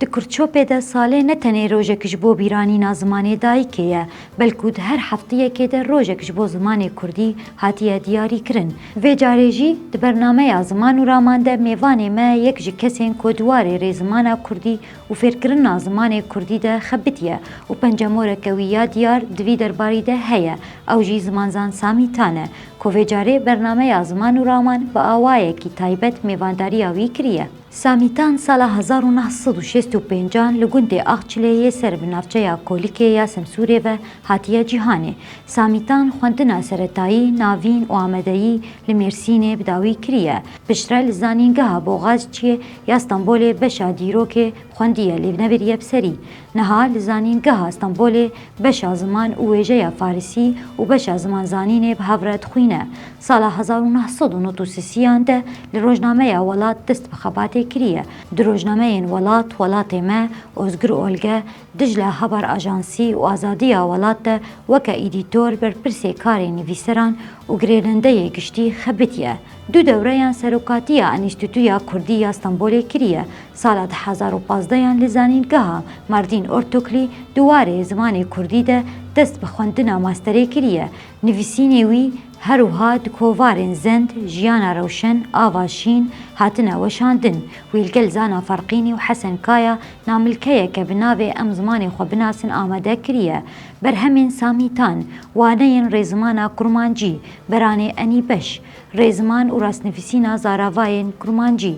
Di Kurtçopê de salê ne tenê rojek ji bo bîranîna zimanê dayikê ye, belkû di her hefteyekê de rojek ji bo zimanê kurdî hatiye diyarîkirin. Vê carê jî di bernameya Ziman û Raman de mêvanê me yek ji kesên ku di warê rê zimana kurdî û fêrkirina zimanê kurdî de xebitiye û pencemoreke wî ya diyar di vî derbarî de heye ew jî zimanzan Samî Tan e ku vê carê bernameya Ziman û Raman bi awayekî taybet mêvandariya wî kiriye. Samîtan sala hezar û neh sed û şêst û pênc an li gundê Axçilê yê ser bi navçeya Kolikê ya Semsûrê ve hatiye cîhanê. Samîtan xwendina seretayî, navîn û amedeyî li Mêrsînê bi dawî kiriye. Piştre li Zanîngeha Boğazciyê ya Stenbolê beşa dîrokê xwendiye lê bi ne biriye bi serî. Niha li Zanîngeha Stenbolê beşa ziman û wêjeya Farisî û beşa ziman zanînê bi hev re dixwîne. Sala hezar û neh sed û nod û sisiyan de li rojnameya Welat dest bi xebatê kiriye. Di rojnameyên Welat, Welatê me, Ozgur Olge, Dijle Haber Ajansî û Azadiya Welat de weke îdîtor berpirsê karê nivîseran û girêdendeyê giştî xebitiye. Du dewreyan Serokatiya Enîstîtuya Kurdî ya Stenbolê kiriye, sala du hezar û pazdeh yan li Zanîngeha Mardîn Ortoklî di warê zimanê Kurdî de dest bi xwendina masterê kiriye. Nivîsînê wî her wiha di kovarên Zend, Jiyana Rewşen, Ava Şîn hatine weşandin. Wî li gel Zana Ferqînî û Hesen Kaya namilkeyeke bi navê Em Zimanê Xwe Binasin amade kiriye. Berhemên Samîtan, Waneyên Rêzimana Kurmancî, Beranê Enî Beş, rêziman û rastnivîsîna zaravayên kurmancî,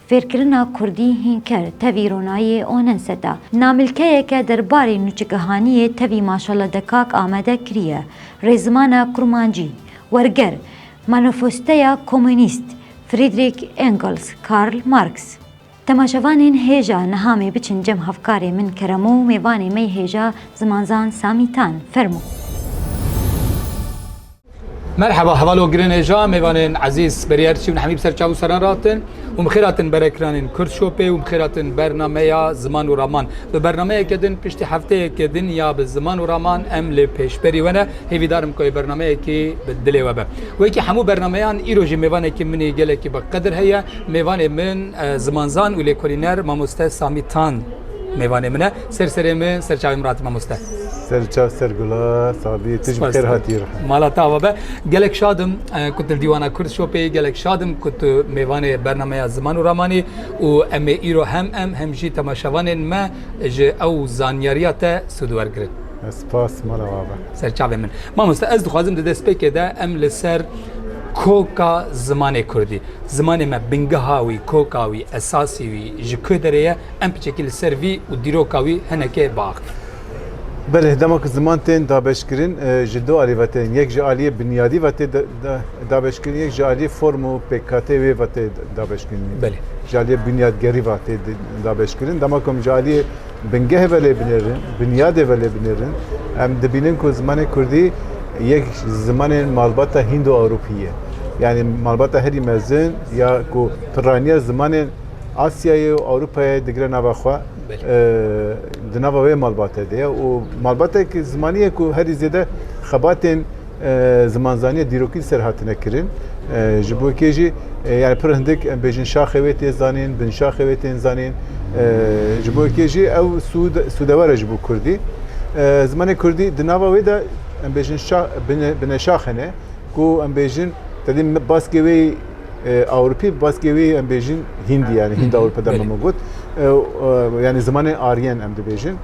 fêrkirina kurdî hînker tevî ronayê Onenset a. Namilkeyeke derbarê nûçikihaniyê tevî Maşalla Dekak amade kiriye, rêzimana kurmancî, werger, Manifestoya Komûnîst, Friedrich Engels, Karl Marx. Temaşevanên hêja niha mê biçin cem hevkarê min keremo û mêvanê mey hêja zimanzan Samî Tan. Fermo. Merheba hevalo girên hêja mêvanên ezîz berî her çî bin hemî bi ser çav û seran re hatin û bi xêr hatin berekiranên Kurd Shopê û bi xêr hatin bernameya Ziman û Raman. Bi bernameyeke din piştî hefteyeke din ya bi Ziman û Raman em lê pêşberî we ne. Hêvîdar im ku ê bernameyekê bi dilê we be. Wekî hemû bernameyan îro jî mêvanekî min ê gelekî bi qedir heye. Mêvanê min zimanzan û lêkolîner mamoste Samî Tan mêvanê min e. Ser serê min ser çavê min rate mamoste. Ser çav ser gula Samî. Tu jî bi xêr hatî. Mala te ava be. Gelek şad im ku tu li Dîwana Kurd Shopê gelek şad im ku tu mêvanê bernameya Ziman û Raman î û em ê îro hem em hem jî temaşevanên me ji ew zanyariya te sûd wergirin. Spas mala wabe. Serçavê min. Mamoste ez dixwazim di destpêkê de em li ser koka zimanê Kurdî. Zimanê me bingeha wî, koka wî, esasî wî ji ku derê ye em piçekî li ser vî û dîroka wî hinekê biaxivin. Belê dema ku ziman tên dabeşkirin e, ji du alî ve tên. Yek ji aliyê binyadî ve tê dabeşkirin, yek ji aliyê form û pêkkateyê wê ve tê dabeşkirin. Belê. Ji aliyê binyadgerî ve tê dabeşkirin. Dema ku em ji aliyê bingehê velê binêrin, binyadê velê binêrin, em dibînin ku zimanê kurdî yek ji zimanên malbata hîndo-ewropî ye. Yanî malbata herî mezin ya ku pirraniya zimanên Asyayê û Ewropayê digire nava xwe di nava wê malbate de ye û malbatekî zimanî ye ku herî zêde xebatên Zimanzaniya dîrokî li ser hatine kirin. Ji bo kê jî yani pir hindik em bêjin şaxê wê tê zanîn, bin şaxê wê tên zanîn. Ji bo kê jî ew sûd sûdewere ji bo Kurdî. Zimanê Kurdî di nava wê de em bêjin şax bine şax hene ku em bêjin tedî baskê wê Ewropî baskê wê em bêjin Hîndî yani Hînd Ewropa dema min got. Yani zimanê Aryen em dibêjin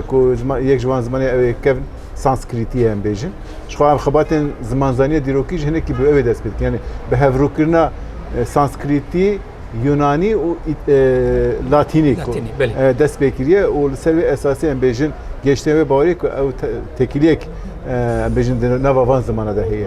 ku yek ji wan zimanê ew ê kevn Sanskritiyê em bêjin. Ji xwe em xebatên zimanzaniya dîrokî ji hinekî bi ew ê dest pê dikin. Yanî bi hevrûkirina e, Sanskritî, Yunanî û Ît- e, Latînî ku Latînî, belê. e, dest pê kiriye û li ser wê esasê em bêjin gêştên wê bawerî ku ew te- tekîliyek e, em bêjin di nava van zimana de heye.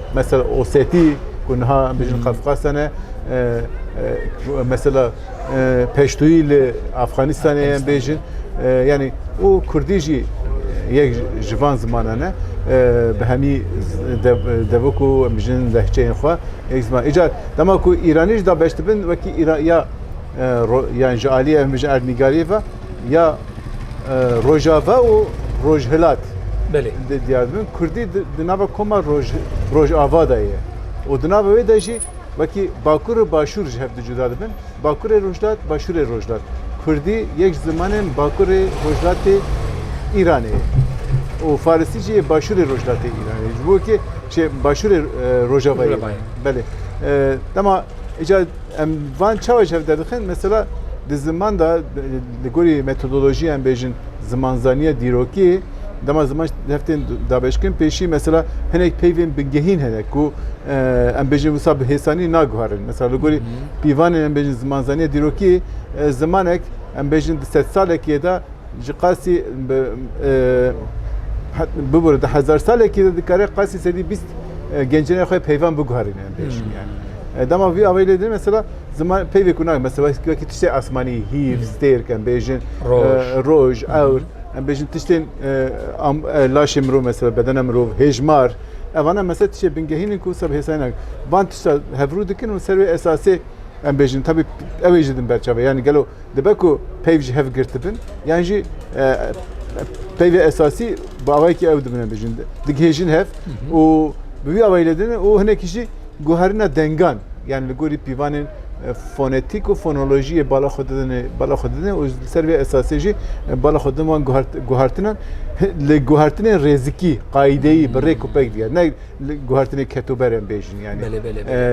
Mesela Osetî ku niha em bêjin hmm. Qafqastan e mesela Peştûyî li Afxanistanê em bêjin yanî û Kurdî jî yek ji van zimanan e bi hemî devik û em bêjin lehçeyên xwe yek ziman. Îcar dema ku Îranî jî da beş dibin wekî ya yan ji aliyê em bêjin erdnîgariyê ve Ya Rojava û Rojhilat Belê. di diyar dibin. Kurdî di di nava koma roj rojava de ye. Û di nava wê de jî wekî bakur û başûr ji hev di cuda dibin. Bakurê Rojhilat, Başûrê Rojhilat. Kurdî yek ji zimanên bakurê Rojhilatê Îranê ye. Û farisî jî yê başûrê Rojhilatê Îranê ye. Ji bo wekî çê başûrê e, Rojavayê ye. Rojavayê. Belê. E, dema îcar Em van çawa ji hev derdixin? Mesela di ziman da li gorî metodolojiyê em bêjin zimanzaniya dîrokî dema ziman heftên dabeşkin pêşî mesela hinek peyvên bingehîn hene ku em bêjin wisa bi hêsanî naguharin. Mesela li gorî pîvanên em bêjin zimanzaniya dîrokî zimanek em bêjin di sedsalekê de Ji qasî bi bibûre di hezarsalekî de dikare qasî sedî bîst gencînê xwe peyvan biguherîne em pêş yani. Dema vî avayî lê din mesela ziman peyvê ku nayê mesela wekî tiştê asmanî hîv stêrk em bêjin roj ewr em bêjin tiştên laşê mirov mesela bedena mirov hêjmar evana mesela tiştê bingehînin ku wisa bi hêsayî nake van tişta hevrû dikin û ser wê esasê em bêjin tevî ew ê ji din berçave yani gelo Dibe ku peyv ji hev girt bin yan jî peyvê esasî bi awayekî ew dibine bijin, digihêjin hev û bi vî awayî lê dinin û hinekî jî guherina dengan yan li gorî pîvanên fonetîk û fonolojiyê bala xwe didin bala xwe didin û li ser vê esasê jî bala xwe didin wan guhertinan li guhertinên rêzikî qaîdeyî bi rêk û pek diger ne guhertinê ketober em bêjin yani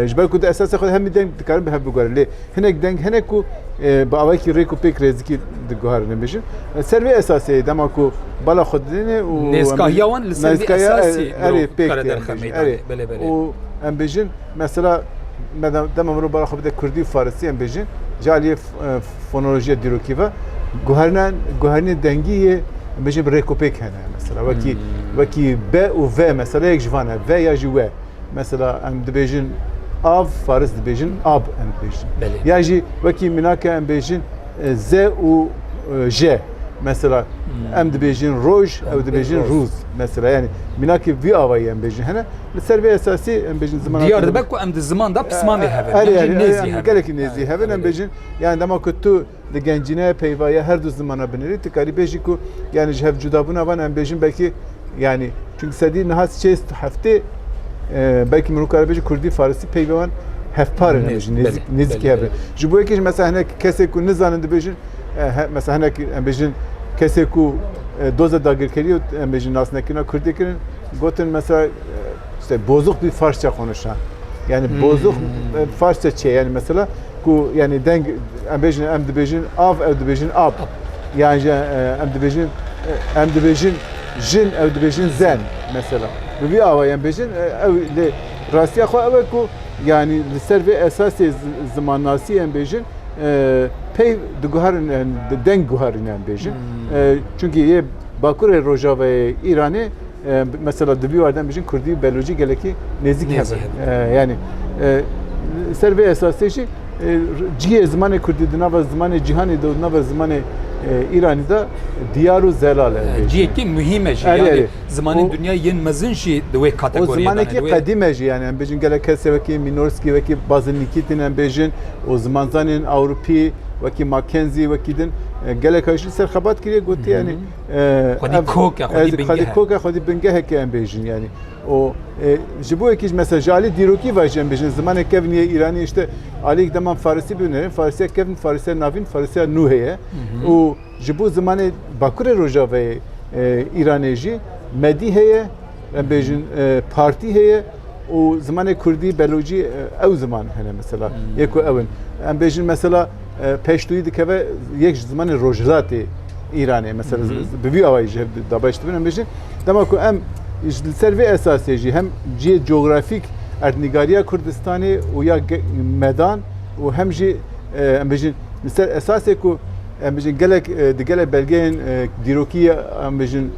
ji ber ku di esasê xwe hemî deng dikarin bi hev biguherin lê hinek deng hene ku bi awayekî rêk û pêk rêzikî diguherin em bêjin ser vê esasê dema ku bala xwe didêne û nêzkahiya wan li ser vê esasê erê pêk erê û em bêjin mesela dema mirov bala xwe bide kurdî û farisî em bêjin caliyê Fonolojiya dîrokî ve guherina guherinê dengî yê bêjin rêkopêk hene mesela wekî wekî B û V mesela yek ji van e V ya jî we mesela em dibêjin av faris dibêjin ab em dibêjin Belê. ya jî wekî minake em bêjin e, Z û e, J mesela em dibêjin roj ew dibêjin rûz. rûz mesela yani minakê vî avayî em bêjin hene li ser vê esasî em bêjin zimana Diyar dibe ku em di ziman da pismamê hevin. Erê yan jî erê nêzî erê hevin. gelekî nêzî hevin em bêjin Yanî dema ku tu di gencîneyê peyva ya her du zimana binêrî, tu karî bêjî ku yanî ji hev cudabûna van em bêjin belkî yanî çunki sedî niha sêst û heftê belkî min kare bêjin kurdî farsî peyvê wan hevpar in hemêjin nêzîkî hev in. Ji bo yekê jî mesela hinek kesê ku nizanin dibêjin mesela hinek em bêjin kesê ku doza dagirkeriyê û em bêjin nasnekirina kurdî kirin gotin mesela İşte bozuk bir Farsça konuşan. Yani hmm. bozuk e, Farsça çe yani mesela ku yani deng em bejin em dibejin av ev dibejin ab. Yani e, em dibejin e, em dibejin jin ev dibejin zen mesela. Bu bir ava yani bejin ev le rastiya xo ev ku yani li ser ve esasê zimannasî em bêjin pey diguherin yani deng guherin em bêjin. Hmm. Çünkü yê bakurê rojavayê İranê Mesela di vî warden bijîn Kurdî û Belûcî gelekî nêzîk hebin. Yani ser vê esasê jî cihê zimanê Kurdî di nava zimanê cîhanê de û di nava zimanê Îranî de diyar û zelal e. Cihekî muhîm e jî. Yani zimanên dunya yên mezin jî di wê kategoriyê de. Zimanekî qedîm e jî yani em bêjin gelek kesê wekî Mînorskî wekî Bazilnîkî tînin em bêjin û zimanzanên Ewropî wekî Mackenzî wekî din geleka jî ser xebat kiriye gotiye yani Xwedî kok e, xwedî bingeh e. Xwedî kok e, xwedî bingeh e ke em bêjin yanî. û ji bo yekî ji mesela ji alî dîrokî ve jî em bêjin zimanê kevnî ye îranî îşte alî deman farisî bi hunerin farisiya kevn farisiya navîn farisiya nû heye û ji bo zimanê bakurê rojaveyê îranê jî medî heye Em bêjin partî heye û zimanê kurdî, belocî ew ziman hene mesela. Yê ku ew in. Em bêjin mesela peştoyî dikeve yek ji zimanê rojhilatê Îranê mesela bi vî awayî ji hev dabeş dibin em bêjin. Dema ku em li ser vê esasê jî hem cihê cografîk erdnîgariya Kurdistanê û ya medan û hem jî em bêjin li ser esasê ku Em bijin gelek di gelek belgeyên dîrokî ye em bijin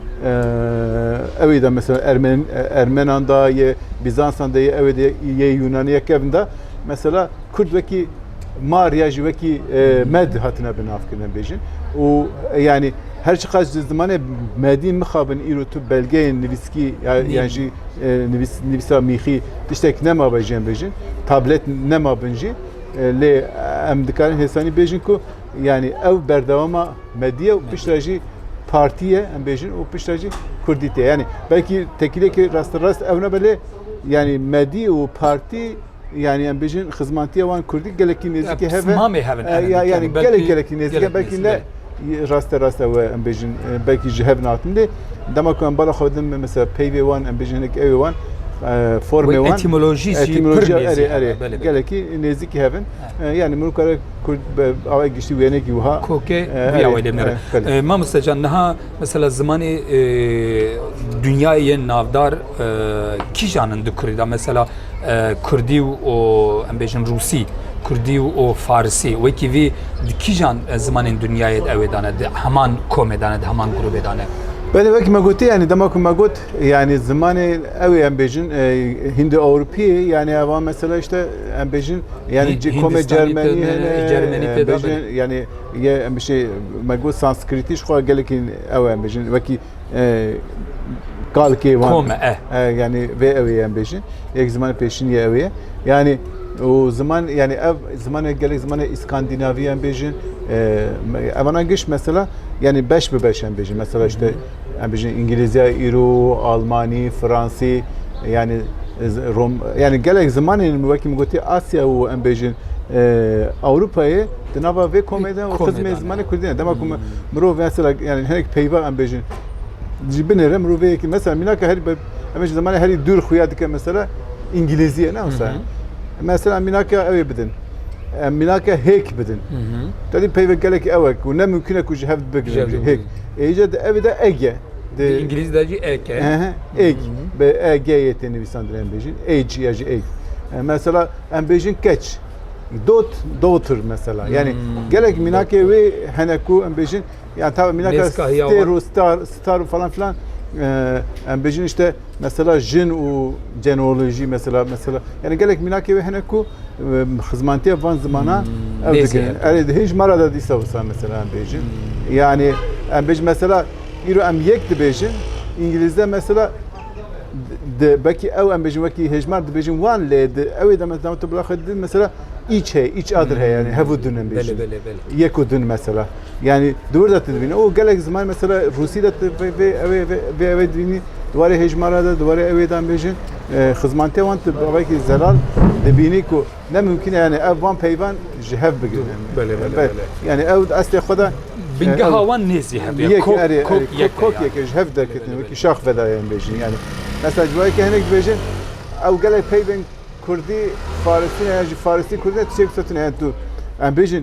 ewê de mesela Ermen Ermenan da ye Bîzansan de ye ewê de ye Yûnanê ye kevin de mesela Kurd wekî mar ya jî wekî med hatine binavkirin em bêjin û yanî her çiqas ji zimanê medî mixabin îro tu belgeyên nivîskî ya yan jî nivîs nivîsa mîxî tiştek nemabe jî em bêjin tablet nemabin jî lê em dikarin hêsanî bêjin ku Yanî ew berdewama mediye û pişt re jî partiye em bêjin û pişt re jî Kurdî tê. Yanî belkî tekîlekî rastrast ew nebe lê yanî medî û partî yanî em bêjin xizmatiya wan Kurdî gelekî nêzîkî hev e. Mamê hev in ev ya yanî gelek gelekî nêzîk e belkî ne raste rast ew e em bêjin belkî ji hev natin lê dema ku em bala xwe din mesela peyvê wan em bêjin hinek ewê wan formê wan etimolojî jî pir nêzîk gelekî nêzîkî hev in. Yani min kare Kurd away giştî wênekî wiha. Kokê wiya wê lêmere. Mamoste can niha mesela zimanê dünyayê yên navdar kîjan in di Kurî de mesela Kurdî û em bêjin Rûsî, Kurdî û Farisî wekî vî di kîjan zimanên dünyayê de ew ê dane di heman komê dane di heman grûbê dane. Belê wekî me gotî yanî dema ku me got Yani zimanê ew ê em bêjin Hindi-Ewropî yani eva mesela işte em bêjin yani Hî- komê Hindistanî Cermenî têne, hene Cermenî em têde bêjin bêne. yani ye em bişê me got Sanskritî ji xwe gelekî ew em bêjin wekî kalkê wan Kome, eh. E, yani vê ew ê em bêjin yek ziman pêşîn ye ew ê yani û ziman yani ev zimanê gelek zimanê Îskandînavî em bêjin e, me- evana giş mesela yani beş bi beş em bêjin mesela işte em bijîn îngilîzya îro almanî fransî yani rom yani gelek zimanên wekî min gotî asya û em bêjin Ewropayê di nava vê komê de û xizmê zimanê kurdî ne dema ku mirov mesela yani hinek peyva em bêjin ji binêre mirovêyekî mesela mînaka herî em ji zimanê herî dûr xuya dike mesela îngilîziyê ne wisa mesela mînaka ewê bidin em mînaka hêk bidin tedî peyve gelek ew e ku ne mumkîne ku ji hev bigrin hêk Êce di evi de ege. Di İngiliz de jî eg e. Eg. Be eg yê tê nivîsandin em bêjin. Age ya jî eg. Mesela em bêjin keç. Dot, daughter mesela. Yani hmm. gelek minakê wê hene ku em bêjin yani tabi minaka stêr û star, star falan filan em bêjin işte Mesela jin û cenolojî mesela mesela yani gelek mînakê wê hene ku xizmantiya van zimana ew dikirin. Erê di hêj mara da dîsa wisa mesela em bêjin. Yani em bêjin mesela îro em yek dibêjin îngilîzde mesela di belkî ew em bêjin wekî hêjmar dibêjin wan lê di ewê de mesela tu bila xwe didin mesela îç heye îç adir heye yani hev û dun em bêjin. Yek û dun mesela. Yanî di wir de tu dibînî û gelek ziman mesela Rûsî de tu vê vê evê vê evê dibînî di warê hêjmara de di warê evê de bêjin xizmantê wan tu bavekî zelal dibînî ku ne mumkîn e yanî ev van peyvan ji hev bigirin. Yanî ew estê xwe de bingeha wan nêzî hebe kokeke ji hev derketin wekî şax vedayên bêjin yanî mesela ji wayeke hinek dibêjin ew gelek peyvên Kurdî Farisî ne ya jî Farisî Kurdî ne tu çêbisotine tu em bêjin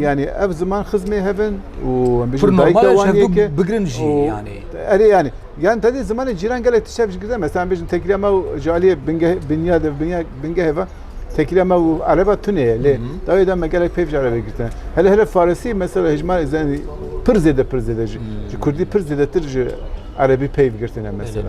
Yani ev ziman xizmê hevin û em bijîn dayika wan yeke bigirin jî yanê. Erê yanê. Yan tedê zimanê cîran gelek tiştev ji girde mesela em bijin tekîla me û ji aliyê bingehê binya de binya bingehê ve tekîla me û ereba tunê ye lê dawê de me gelek peyv ji erebê girtine. Hele hele farisî mesela hejmarê zenî pir zêde pir zêde ji kurdî pir zêdetir ji erebî peyv girtine mesela.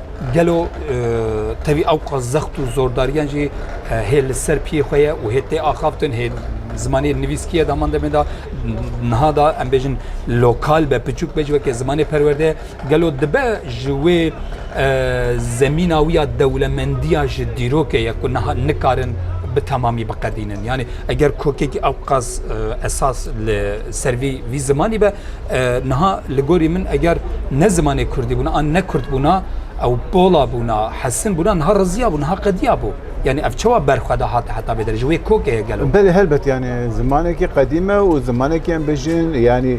Gelo tevî ew qas zext û zordariyan jî hê li ser piyê xwe ye û hê tê axaftin hê zimanê nivîskî ye daman demê da niha da em bêjin lokal be piçûk be ji wekê zimanê perwerde ye gelo dibe ji wê zemîna wî ya dewlemendiya ji dîrokê ye ku niha nikarin bi temamî biqedînin yanî eger kokekî ew qas esas li ser vî vî zimanî be Niha li gorî min eger ne zimanê kurdî bûna an ne kurd bûna ew pola bûna, hesin bûna niha riziyabû, niha qediyabû. Yanî ev çawa ber xwe de hate heta vê derê ji wê kokê ye gelo. Belê helbet yanî zimanekî qedîm e û zimanekî em bijîn yanî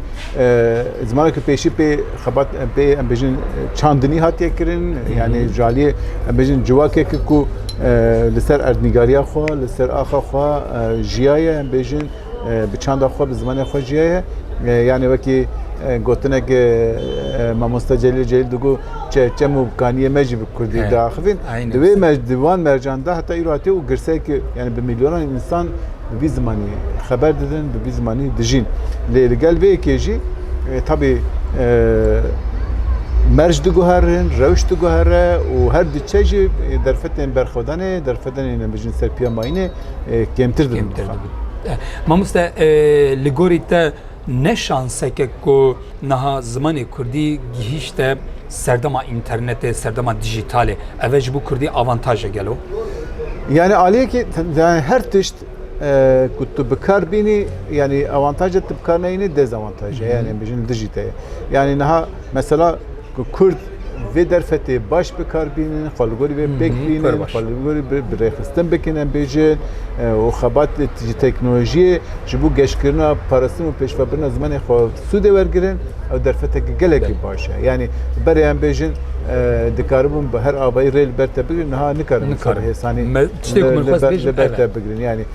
zimanekî pêşî pê xebat pê em bijîn çandinî hatiye kirin yanî ji aliyê em bijîn civakek ku li ser erdnîgariya xwe li ser axa xwe jiyaye em bijîn Bi çanda xwe, bi zimanê xwe jiye ye. Yanê wekî gotinek mamosta Celîl Celîl digo çem û kaniyê me jî bi Kurdî diaxivîn. Di wê di wan mercan de heta îro hatiye û girsekî yanî bi milyonan însan bi vî zimanî xeber didin, bi vî zimanî dijîn. Lê li gel vê yekê jî tabî merc diguherin, rewş diguhere û her diçe jî derfetên berxwedanê, derfedenê nebijin ser piya mayînê. kêmtir dibin. Mamoste li gorî te ne şanseke ku niha zimanê Kurdî gihîşte serdema înternetê, serdema dijîtalê. Ev e ji bo Kurdî avantaje gelo? Yani aliyekî yani her tişt ku tu bi kar bînî yani avantaje tu bi kar neyînî dezavantaje yani bijin dijîte. Yani niha mesela Ku Kurd vê derfetê baş bi kar bînin, xwe li gorî vê pêk bînin, xwe li gorî bi rêxistin bikin em bêjin û xebat ji teknolojiyê ji bo geşkirina parastin û pêşvebirina zimanê xwe sûdê wergirin ew derfetek gelekî baş e. Yanî berê em bêjin dikaribûn bi her avayî rê li ber te bigirin niha nikarin li ser hêsanî li ber te bigirin.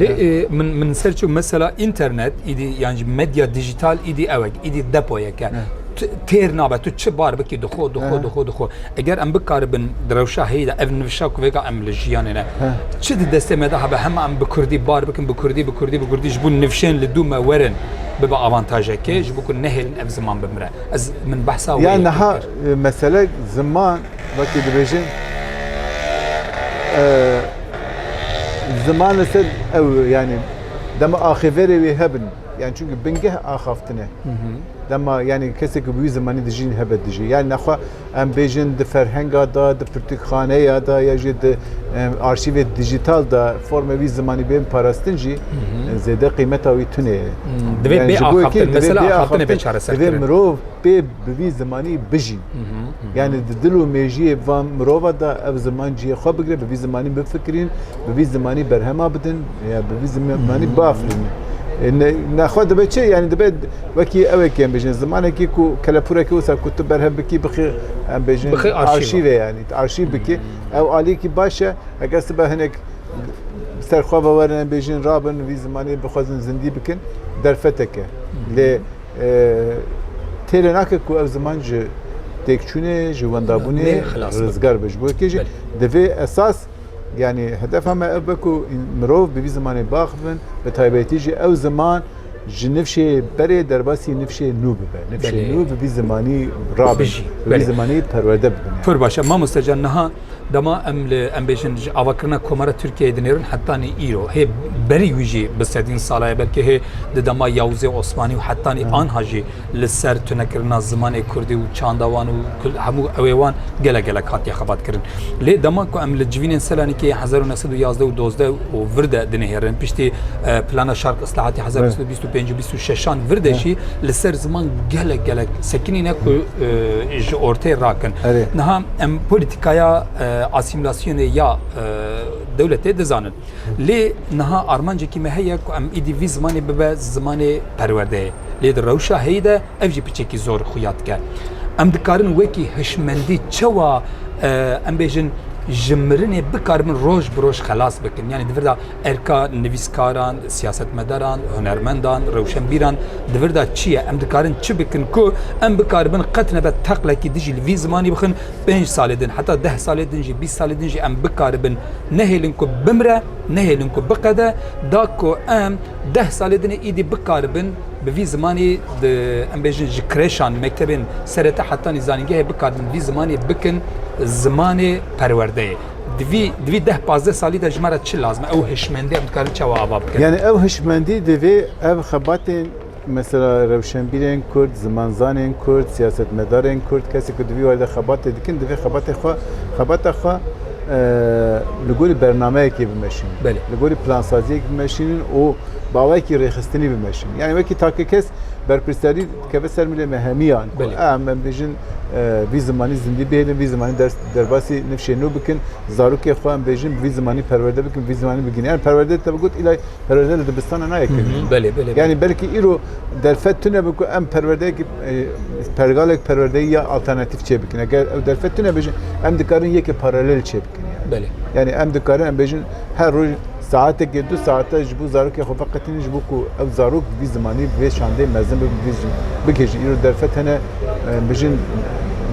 Lê min min ser çû mesela înternet îdî yan jî medya dijîtal îdî ew ek îdî depoyeke têr nabe tu çi bar bikî dixo dixo dixo dixo eger em bikaribin di rewşa heyî de ev nivşa ku vêga em li jiyanê ne çi di destê me de hebe hema em bi kurdî bar bikin bi kurdî bi kurdî bi kurdî ji bo nivşên li dû me werin bibe avantajekê ji bo ku nehêlin ev ziman bimire ez min behsa ya niha mesele ziman Wekî dibêjin ziman li ser ew yanî dema axêverê wê hebin yan çunki bingeh axaftine dema yanî kesê ku wî zimanî dijîn hebe dijî yan nexwe em bêjin di ferhenga da di pirtûkxaneya da ya jî di arşîvê dijital da forme wî zimanî bên parastin jî zêde qîmeta wî tunê divê mirov pê bi vî zimanî bijîn Yani di dil û mêjiyê van mirova da ev ziman cihê xwe bigire, bi vî zimanî bifikirîn, bi vî zimanî berhema bidin, ya bi vî zimanî biafirînin. Nexwe dibe çi? Yani dibe wekî evekî em bêjin zimanekî ku kelepûrekî wisa ku tu berhev bikî bixî em bêjin arşîve yani arşîv bikî ew aliyekî baş e eger sibe hinek serxwe ve werin em bêjin rabin vî zimanî bixwazin zindî bikin derfeteke lê Têrê nake ku ev ziman ji têkçûnê, ji wendabûnê rizgar be. Ji bo yekê jî divê esas yanî hedefa me ev be ku mirov bi vî zimanê baxivin, bi taybetî jî ew ziman ji nifşê berê derbasî nifşê nû bibe. Nifşê nû bi vî zimanî rabin, bi vî zimanî perwerde bibin. Pir baş e, mamoste can niha Dema em li em bêjin ji avakirina Komara Tirkiyeyê dinêrin hetanî îro hê berî wî jî bi sedîn sala ye belkî hê di dema Yawuzê Osmanî û hetanî anha jî li ser tunekirina zimanê Kurdî û çanda wan û hemû ewê wan gelek gelek hatiye xebatkirin. Lê dema ku em li civînên Selanikê hezar û neh sed û yazdeh û dozdeh û vir de dinihêrin piştî plana Şark Islahatî hezar û neh sed û Bîst û pênc û bîst û şeşan vir de jî li ser ziman gelek gelek sekinî ne ku ji ortê rakin. Niha em polîtîkaya asîmîlasyonê ya dewletê dizanin. Lê niha armancekî me heye ku em îdî vî zimanê bibe zimanê perwerdeyê. Lê di rewşa heyî de ev jî piçekî zor xuya dike. Em dikarin wekî hişmendî çewa em bêjin ji mirinê bikaribin roj bi roj xelas bikin. Yanî di vir de Erka nivîskaran, siyasetmedaran, hunermendan, rewşenbîran di vir de çi ye? Em dikarin çi bikin ku em bikaribin qet nebe teqlekî dijî li vî zimanî bixin? Pênc salê din heta deh salê din jî bîst salê din jî em bikaribin nehêlin ku bimre, nehêlin ku biqede. Da ku em deh salê din ê îdî bikaribin bi vî zimanî di em bêjin ji kreşan, mektebên serete hetanî zanîngehê bikaribin vî zimanî bikin zimanê perwerdeyê. Di vî di vî deh pazdeh salî de ji me re çi lazim e? Ew hişmendî em dikarin çawa ava bikin? Yani ev hişmendî divê ev xebatên mesela rewşenbîrên Kurd, zimanzanên Kurd, siyasetmedarên Kurd, kesê ku di vî warî de xebatê dikin, divê xebatê xwe xebata xwe e, li gorî bernameyekê bimeşînin. Belê. Li gorî plansaziyek bimeşînin û bawekî rêxistinî bimeşînin. Yani wekî takê kes berpirsiyarî dikeve ser milê me hemiyan ku Belê. em em bêjin e, vî zimanî zindî bihêlin, vî zimanî ders derbasî nifşê nû bikin, zarokê xwe em bêjin bi vî zimanî perwerde bikin, bi vî zimanî bigihînin. Yani perwerde te bi got îlay perwerde li dibistana nayê kirin. Belê, belê. Yani belkî îro derfet tune bi ku em perwerdeyekî e, pergalek perwerdeyî ya alternatîf çê bikin. Eger ew derfet tune bêjin, em dikarin yekê paralel çê bikin. Yani. Belê. Yani em dikarin em bêjin Her roj saetekê du saete ji bo zarokê xwe veqetînin ji bo ku ew zarok bi vî zimanî bi vê şandê mezin bibe bi vî jin bigihîjin. Îro derfet hene bijin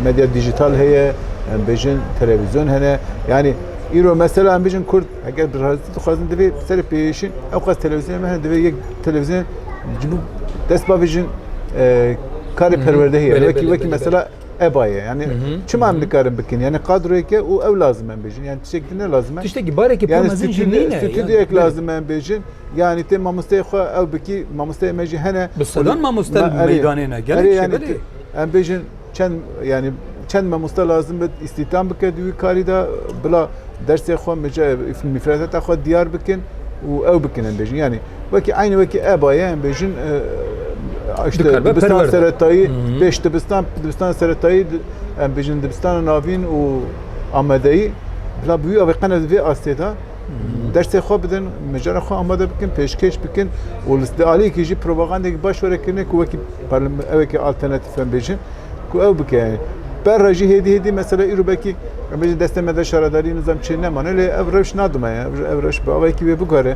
medya dîjîtal heye bijin televîzyon hene yanî îro mesela em bijin kurd eger bi razî dixwazin divê bi serê pêşin ew qas televîzyonê me hene divê yek televîzyon ji bo dest bavêjin karê perwerdehî heye wekî wekî mesela Eva ye. Yani çima em dikarin bikin? Yani kadroyeke û ew lazim em bêjin. Yani tiştek din ne lazim em. Tiştek bareke pir mezin jî nîne. Stüdyo ek lazim em bêjin. Yani te mamosteyê xwe ew bikî mamosteyê me jî hene. Bi sedan mamoste meydanê ne. Gelek yani em bêjin çend yani çend mamoste lazim bit îstîtam bike di wî karî de bila dersê xwe mifredeta xwe diyar bikin û ew bikin em bêjin. Yani Wekî aynî wekî eba ye em bêjin işte dibistan seretayî pêş dibistan dibistan seretayî em bêjin dibistana navîn û amedeyî bila bi wî avê qene di vê astê de dersê xwe bidin mijara xwe amade bikin pêşkêş bikin û li di aliyekî jî propagandekî baş were kirine ku wekî evekî alternatîf em bêjin ku ew bike berra jî hêdî hêdî mesela îro belkî em bêjin destê me de şaredarî nizam çê nemane lê ev rewş nadime ev rewş bi avekî wê bigore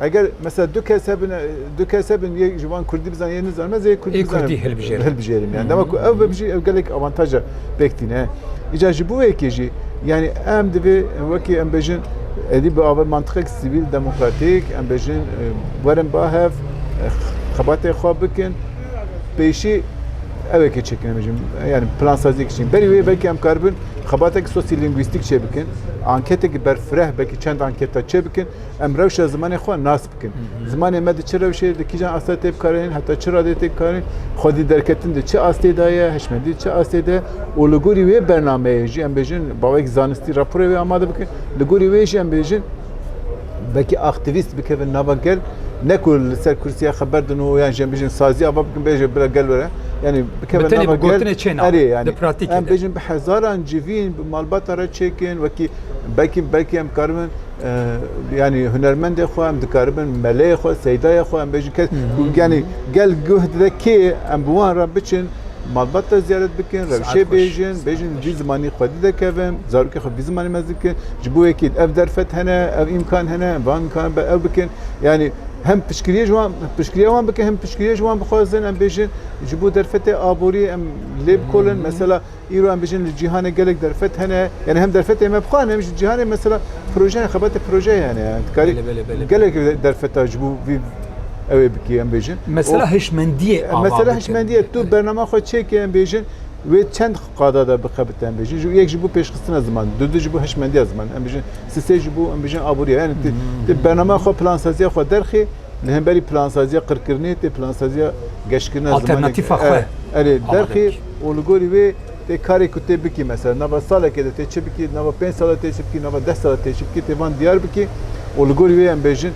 Eger mesela du kes hebin, du kes hebin yek ji wan Kurdî bizan yê nizanim ez yê Kurdî bizanim. Kurdî hilbijêrim. Hilbijêrim yani. Dema ku ev bibijî ev gelek avantaja pêk tîne. Îca ji bo yekê jî yani em divê wekî em bêjin edî bi ava mantiqek sivîl demokratîk em bêjin werin ba hev xebatê xwe bikin pêşî ew yekê çêkin bêjin yani plansazî kişîn. Berî wê belkî em karibin xebatek sosyolîngwîstîk çê bikin. Anketeke berfireh belkî çend anketa çê bikin. Em rewşa zimanê xwe nas bikin. Zimanê me di çi rewşê di kîjan asta tê bikaranîn heta çi radê tê bikaranîn xwedî derketin di çi astê de ye hişmendî çi astê de û li gorî wê bernameyê jî em bêjin bawek zanistî raporê wê amade bikin li gorî wê jî em bêjin belkî aktivîst bikevin nava gel ne ku li ser kursiya xeber din û yan jî em bêjin sazî ava bikin bêje bila gel were yanî bikevin nava gel erê yanî em bêjin bi hezaran civîn bi malbata re çêkin wekî belkî belkî em karibin yanî hunermendê xwe em dikaribin meleyê xwe seydaya xwe em bêjin kes yanî gel guh dide kê em bi wan re biçin malbat te ziyaret bikin rewşê bêjin bêjin vî zimanî xwe dide kevin zarokê xwe vî zimanî me dikin ji bo yekî ev derfet hene ev îmkan hene em van îmkan be ew bikin yanî hem pişkiriyê ji wan pişkiriya wan bikin hem pişkiriyê ji wan bixwazin em bêjin ji bo derfetê aboriyê em lê bikolin mesela Îro em bijîn li cîhanê gelek derfet hene yanî hem derfetên me bi xwe hene hem jî cîhanê mesela projeyan xebata projeyê hene yan tu karî gelek derfeta ji bo vî ew ê bikî em bêjin. Mesela hişmendiyê ava bike. Mesela hişmendiyê tu bernama xwe çêkê em bêjin wê çend qada de bixebite em bêjin ji yek ji bo pêşxistina ziman du du ji bo hişmendiya ziman em bijin si sê ji bo em bijin aboriya yanî tu bernama xwe plansaziya xwe derxî Li hemberî plansaziya qirkirinê tê plansaziya geşkirina zimanek. Alternatîfa xwe Erê amade derxî bikî. û li gorî wê tê karê ku tê bikî mesela nava salekê de tê çi bikî, di nava pênc sala tê çi bikî, nava deh sala tê çi bikî tê van diyar bikî û li gorî wê em bêjin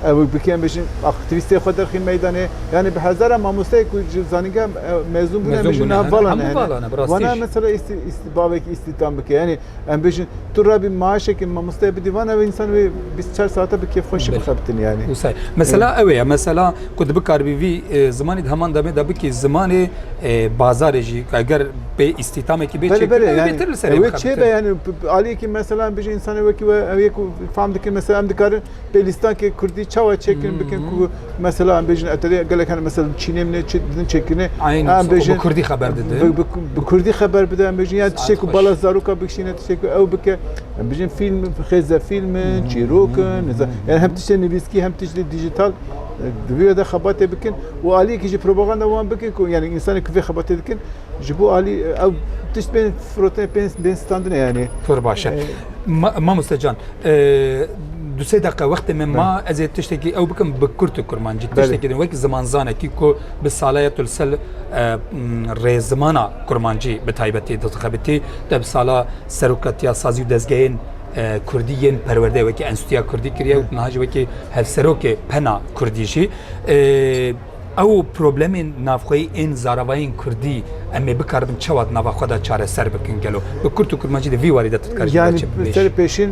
ew bikî em bêjin aktivîstê xwe derxî meydanê. Yanî bi hezara mamosteyê ku ji zanîngeha mezûn bûne em Mezûn bêjin bûne, niha hene, vala hemû nehêne. vala ne, bi rastî Wana jî. mesela îstî îstî bavek îstîdam bike yanî Em bêjin tu rabî maaşekê mamosteyê bidî van ev însan wê bîst çar saate bi kêfxweşî bixebitin yanî. Wisa mesela ew ye mesela ku tu bikaribî vî zimanê di heman demê de bikî zimanê bazarê jî eger bê îstîtamekî bê çêtir li serê wê çêbe yanî aliyekî mesela em bêjin însanê wekî we ew yek fam dikin mesela em dikarin Pê lîstankê kurdî çawa çêkirin bikin ku mesela em bêjin eterê gelek hene mesela Çînê min çi din çêkirinê em bêjin kurdî xeber dide bi kurdî xeber bide em bêjin ya tiştê ku bala zaroka bikişîne tiştê ku ew bike em bêjin fîlm xêze fîlmin çîrokin yani hem tiştê nivîskî hem tiştê dijital divê de xebatê bikin û aliyekî jî propaganda wan bikin ku yani însanê ku vê xebatê dikin Ji bo alî ew tişt bên firotin bên bên standine yani. Pir baş e. Mamoste can du sê deqa wextê min ma ez ê tiştekî ew bikim bi kurt û kurmancî tiştekî din wek zimanzanekî ku bi salaya tu li ser rê zimana kurmancî bi taybetî dixebitî te bi sala serokatiya sazî û dezgehên Kurdî yên perwerde wekî enstîtiya Kurdî kiriye û niha jî wekî hevserokê pena Kurdî jî Ew problemên navxweyî ên zaravayên kurdî em ê bikaribin çawa di nava xwe de çareser bikin gelo? Bi kurt û kurmancî de vî warî de tu dikarî jî me çi bibêjî? Serê pêşîn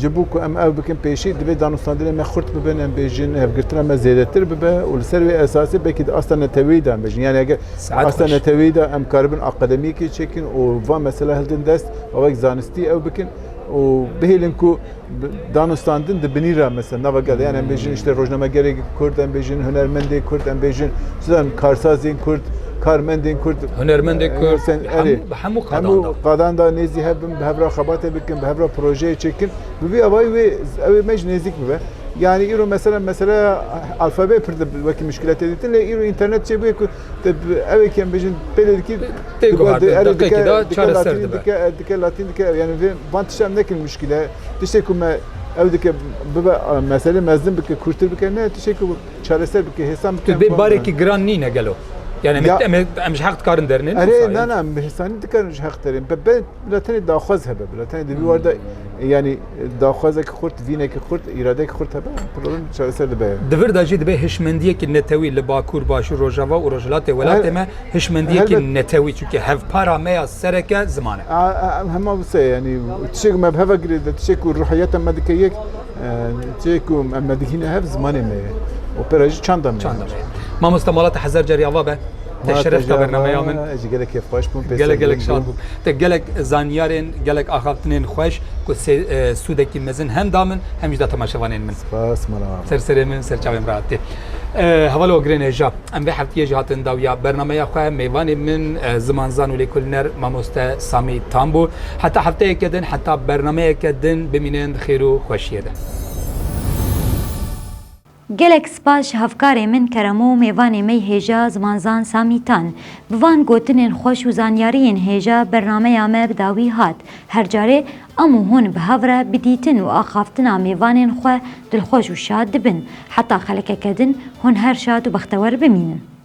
ji bo ku em ew bikin pêşî divê danûstandinên me xurt bibin, em bêjin hevgirtina me zêdetir bibe û li ser wê esasê belkî di asta neteweyî de em bêjin. Yanî eger asta neteweyî de em karibin akademiyekê çêkin û van mesela hildin dest û wek zanistî ew bikin û bihêlin ku danûstandin di binî re mesela nava gel yan em bêjin işte rojnamegerê kurd em bêjin hunermendê kurd em bêjin çidan karsazên kurd karmendên kurd hunermendê kurd erê hemû hemû qadan da nêzî hebin bi hevra xebatê bikin bi hevra projeyê çêkin bi vî avayî wê ew ê me ji nêzîk bibe yani îro mesela mesela alfabe pir wekî muşkiletê dîtin lê îro înternet çêbûye ku Ew ê em bêjin pêlê dikî tê guhardin deqekî de çareser dibe. Dike latîn dike yani vê van tişta em nekin muşkîl e. Tiştê ku me ew dike bibe meselê mezin bike kûrtir bike ne tiştê ku çareser bike hêsan bike. Vê barekî giran nîne gelo. Yani em em ji heq dikarin derinin. Erê na na hêsanî dikarin ji heq derinin. Be bila tenê daxwaz hebe bila tenê di vî warda yani Daxwazeke xurt, vîneke xurt, îradeyeke xurt hebe, problem çareser dibe. Di vir de jî dibe hişmendiyekî netewî li Bakur, Başûr, Rojava û Rojhilatê welatê me hişmendiyekî netewî çunke hevpara me ya serek e ziman e. Hema wisa ye yanî tiştê ku me bi heva girê de tiştê ku ruhiyata me dike yek tiştê ku em me digihîne hev zimanê me ye û pere jî çanda me ye. Mamoste malate hezar carî ava be. Te şeref da bernameya min. Ez jî gelek kêfxweş bûm. Gelek gelek şad bûm. Te gelek zanyarên, gelek axaftinên xweş ku sûdekî mezin hem da min hem jî da temaşevanên min. Spas mala me. Ser serê min, ser çavên rahat tê. Hevalê Ogirên Hêja. Em vê heftiyê jî hatin dawiya bernameya xwe. Mêvanê min zimanzan û lêkolîner mamoste Samî Tam bû. Heta hefteyeke din, heta bernameyeke din bimînin xêr û xweşiyê de. Gelek spas ji hevkarê min Keremo, mêvanê mey hêja, zimanzan Samî Tan. Bi van gotinên xweş û zanyariyên hêja bernameya me bi dawî hat. Her carê em û hûn bi hev re bi dîtin û axaftina mêvanên xwe dilxweş û şad dibin. Heta xelekeke din hûn her şad û bextewer bimînin.